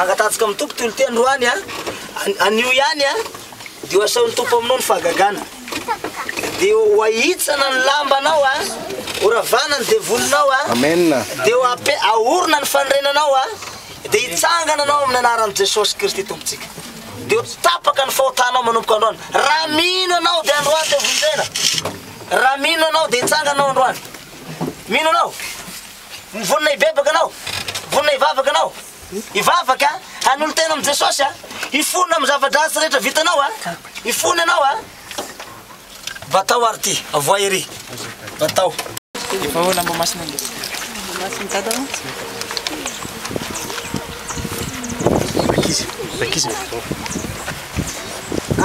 angatahantsika amin'ny tompo toy ny teny androany a anio ihany a dia ho asaon'ny tompo aminao ny fahagagana Dia ho ahitsana ny lambanao a, ho ravana ny devolinao a, dia ho ape, ahorona ny fanorenanao a, dia hitsangana anao amin'ny anaran'i Jesosy Kristy Tompontsika. Dia ho tapaka ny fahotanao manomboka androany. Raha mino anao dia androany dia vonjena. Raha mino anao dia hitsangana anao androany. Mino anao? Vonona hibebaka anao? Vonona hivavaka anao? Hivavaka, hanolo-tena amin'i Jesosy, hifona amin'ny zava-dratsy rehetra vitanao, hifona ianao a! Batao ary ity, avoay ery, batao. Evaho lamba masina nge. Masina dada mo. Ankizy, ankizy evaho.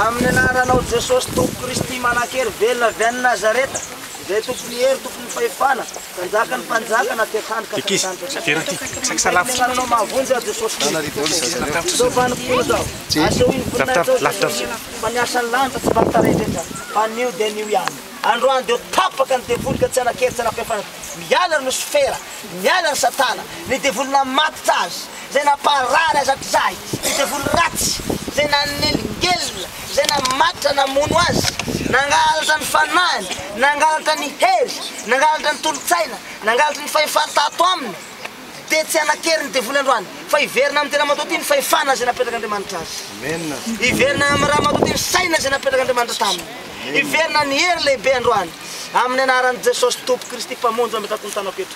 Amin'ny anaranao Jesosy Tompo Kristy manankery velona avy any Nazareta, izay tompon'ny hery, tompon'ny fahefana, Mpanjaka ny mpanjaka na tia trano ka Ankizy, tsy atera aty, saiky salafo. Tsy nananao mahavonjy aho Jesosy Kristy. Izao vanim-potoana izao, asehoy ny voninahitra ao Jesosy, fa ny asan'ny lanitra tsy vaky tarehy rehetra, fa anio dia anio ihany. Androany dia ho tapaka ny devoly ka tsy hanan-kery, tsy hanam-pihafanana. Miala ny losifera, miala ny satana, ny devoly namatotra azy, Izay namparary azak'izahy, ny devoly ratsy, izay nanelingelina, izay namatotra namono azy, nangalatra ny fanahiny, nangalatra ny hery, nangalatra ny tolo-tsaina, nangalatra ny fahefany tato aminy, dia tsy hanan-kery ny devoly androany, fa hiverina amin'ny tena matoa tia ny fahefana izay napetrak'Andriamanitra azy. Hiverina amin'ny ra matoa tia ny saina izay napetrak'Andriamanitra taminy. Hiverina ny hery lehibe androany, amin'ny anaran'i Jesosy Tompo Kristy Mpamonjy mametrako ny tanako eto.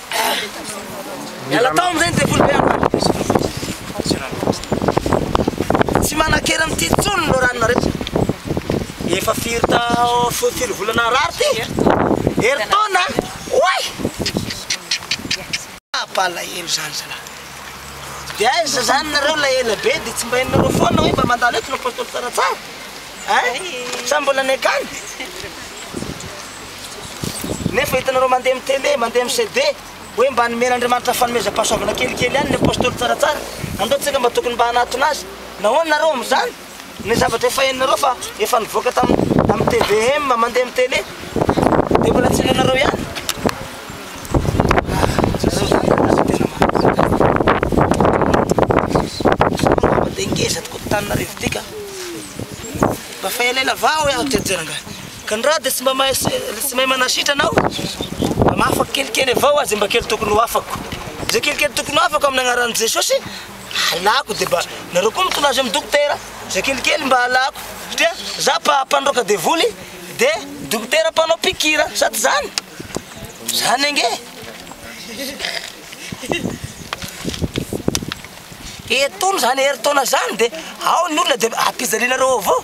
Miala tao amin'izay ny devoly be andro alina. Tsy manan-kery amin'ity intsony ny loharanonareo. Efa firy ta fo- firy volana narary ty? Herintaona? Oay! Ah, palahelo izany zalahy. Dia aiza izany nareo ilay ela be dia tsy mba henonareo foana hoe mba mandalo eto ny apôstôly tsaratsara? Ein? Sa mbola any an-kany? Nefa hitanareo mandeha amin'ny télé, mandeha amin'ny CD, hoe mba nomen'Andriamanitra fanomezam-pahasoavana kelikely ihany ny apostoly tsaratsara, andao tsika mba tokony mba hanatona azy. Nahoana nareo amin'izany? Ny zavatra efa henonareo fa efa nivoaka tamin'ny tamin'ny tvm, mandeha amin'ny télé, dia mbola tsy henonareo ihany. Dia ngeza tokoa taninareo ity ka. Mba fa elaela vao hoe aho tsy hijery angaha. Ka ny ra dia tsy mba mahay tsy mahay manasitrana aho mba mahafaka kelikely avao aza mba kely tokony ho afako zay kelikely tokony ho afako amin'ny anaran'i Jesosy halako dia mba nareo koa mitondra azy amin'ny dokotera zay kelikely mba halako satria za mpa mpandroaka devoly dia dokotera mpanao pikira sa tsy zany zany ange etony zany herintaona zany dia ao ny olona dia ampijalinareo avao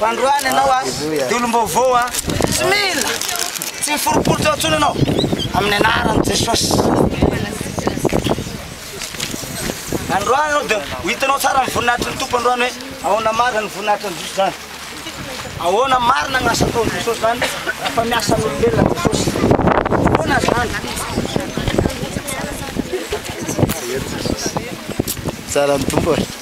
Fandroana ianao a, dia olom-baovao a, tsy mila, tsy miforiporitra intsony ianao, amin'ny anaran'i Jesosy. Androany ianao dia ho hitanao tsara ny voninahitry ny Tompo androany hoe ahoana marina ny voninahitry an'i Jesosy izany. Ahoana marina ny asa ataon'i Jesosy izany rehefa miasa amin'olombelona an'i Jesosy. Ahoana izany? Tsara ny Tompo e.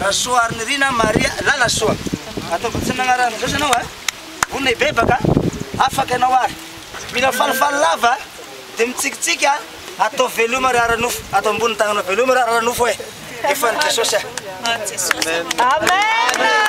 Rasoarinirina Maria Lalasoa, ataovy antsoina anaran'izao izy ianao a, vonona hibebaka a, afaka ianao ary. Mila falifaly lava de mitsikitsiky a! Atao veloma ry ara-nofo, atao ambony tagnana veloma ry ara-nofo e! Efa an'i Jesosy a! Amen!